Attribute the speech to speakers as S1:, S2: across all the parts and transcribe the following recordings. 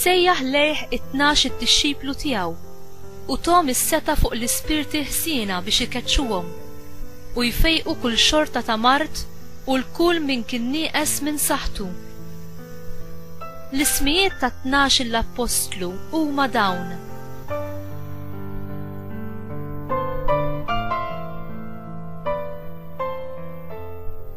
S1: Sejjaħ lejh it-tnax id-dixxiplu tiegħu u thom is-setgħa fuq l-ispirti ħżiena biex ikeċċuhom u jfejqu kull xorta ta' mard u 'l kull min kien nieqes minn saħħtu. L-ismijiet tat-tnax-il appostlu huma dawn.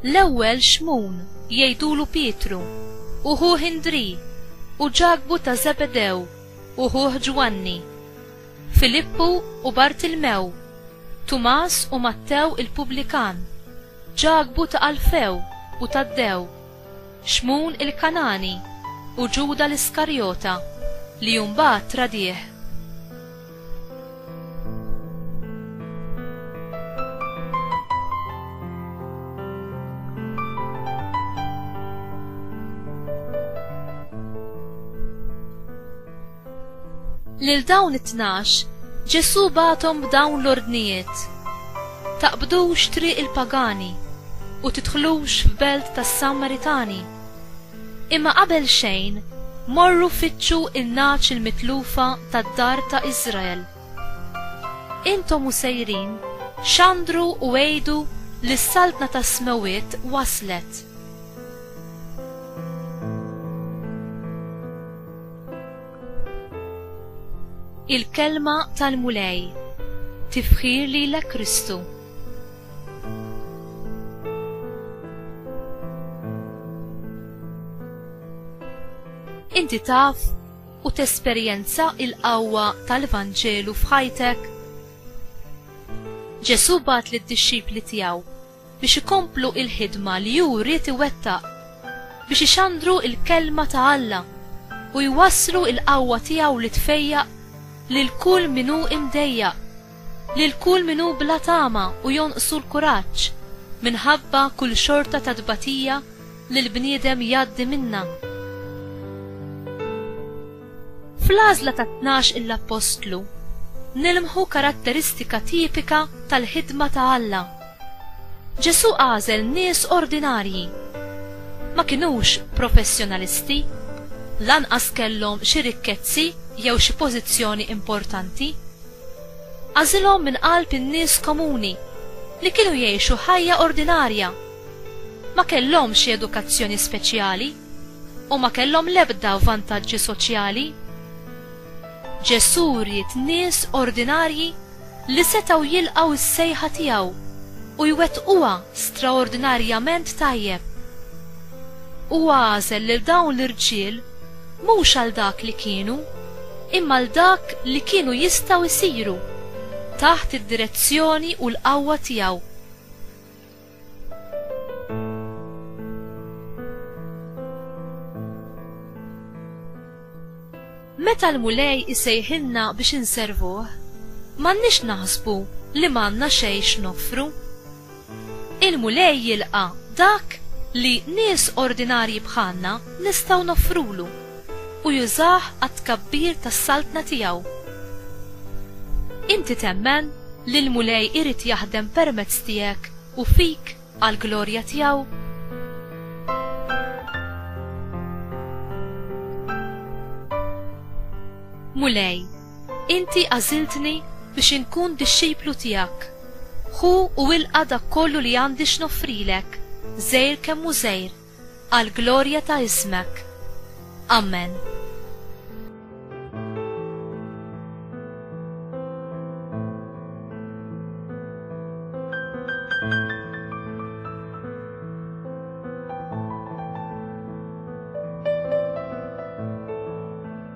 S1: L-ewwel Xmun. jgħidulu Pietru, u ħuh Indrì, u Ġakbu ta' Żebedew, u ħuh Ġwanni, Filippu u Bartilmew, Tumas u Mattew il-pubblikan, Ġakbu ta' Alfew u Taddew, Xmun il-Kangħani, u Ġuda l-Iskarjota, li mbagħad tradih. Lil dawn it-tnax, Ġesu batom b'dawn l-ordnijiet. Taqbdux triq il-pagani u tidħlux f'belt tas-Sammaritani. Imma qabel xejn, morru fittxu n-nagħaġ il-mitlufa tad-dar ta' Israel. Intom u sejrin, xandru u għidu li s-Saltna tas-Smewwiet waslet. Il-Kelma tal-Mulej, Tifħir lilek Kristu. Inti taf u tesperjenza il-qawwa tal-Vanġelu f'ħajtek? Ġesu bat lid dixxipli tiegħu biex ikomplu il-ħidma li hu ried iwettaq biex ixandru il-kelma ta' Alla u jwasslu il-qawwa tiegħu li tfejjaq lil kull min hu imdejjaq. Lil kull min hu bla tama u jonqsu l-kuraġġ minħabba kull xorta ta' tbatija li l-bniedem jgħaddi minnha. Fl-għażla tat-tnax il-Appostlu nilmħu karatteristika tipika tal-ħidma ta' Alla. Ġesù għażel nies ordinarji. Ma kinux professjonalisti, lanqas kellhom xi rikkezzi jew xi pożizzjoni importanti. Għażilhom minn qalb in-nies komuni li kienu jgħixu ħajja ordinarja. Ma kellhomx xi edukazzjoni speċjali u ma kellhom l-ebda vantaġġi soċjali. Ġesù ried nies ordinarji li setgħu jilqgħu s-sejħa tiegħu u jwettquha straordinarjament tajjeb. Huwa għażel lil dawn l-irġiel mhux għal dak li kienu, imma għal dak li kienu jistgħu jsiru, taħt id-direzzjoni u l-qawwa tiegħu. Meta l-Mulej isejħilna biex inservuh, m'għandniex naħsbu li m'għandna xejn x'noffru. Il-Mulej jilqa' dak li nies ordinarji bħalna nistgħu noffrulu, u jużah għat-tkabbir tas-Saltna tiegħu. Inti temmen li l-Mulej irid jaħdem permezz tiegħek u fik għall-glorja tiegħu? Mulej, Inti għażiltni biex inkun dixxiplu tiegħek. Ħu u ilqa' dak kollu li għandi x'noffrilek, żgħir kemm hu żgħir, għall-glorja ta' ismek. Amen.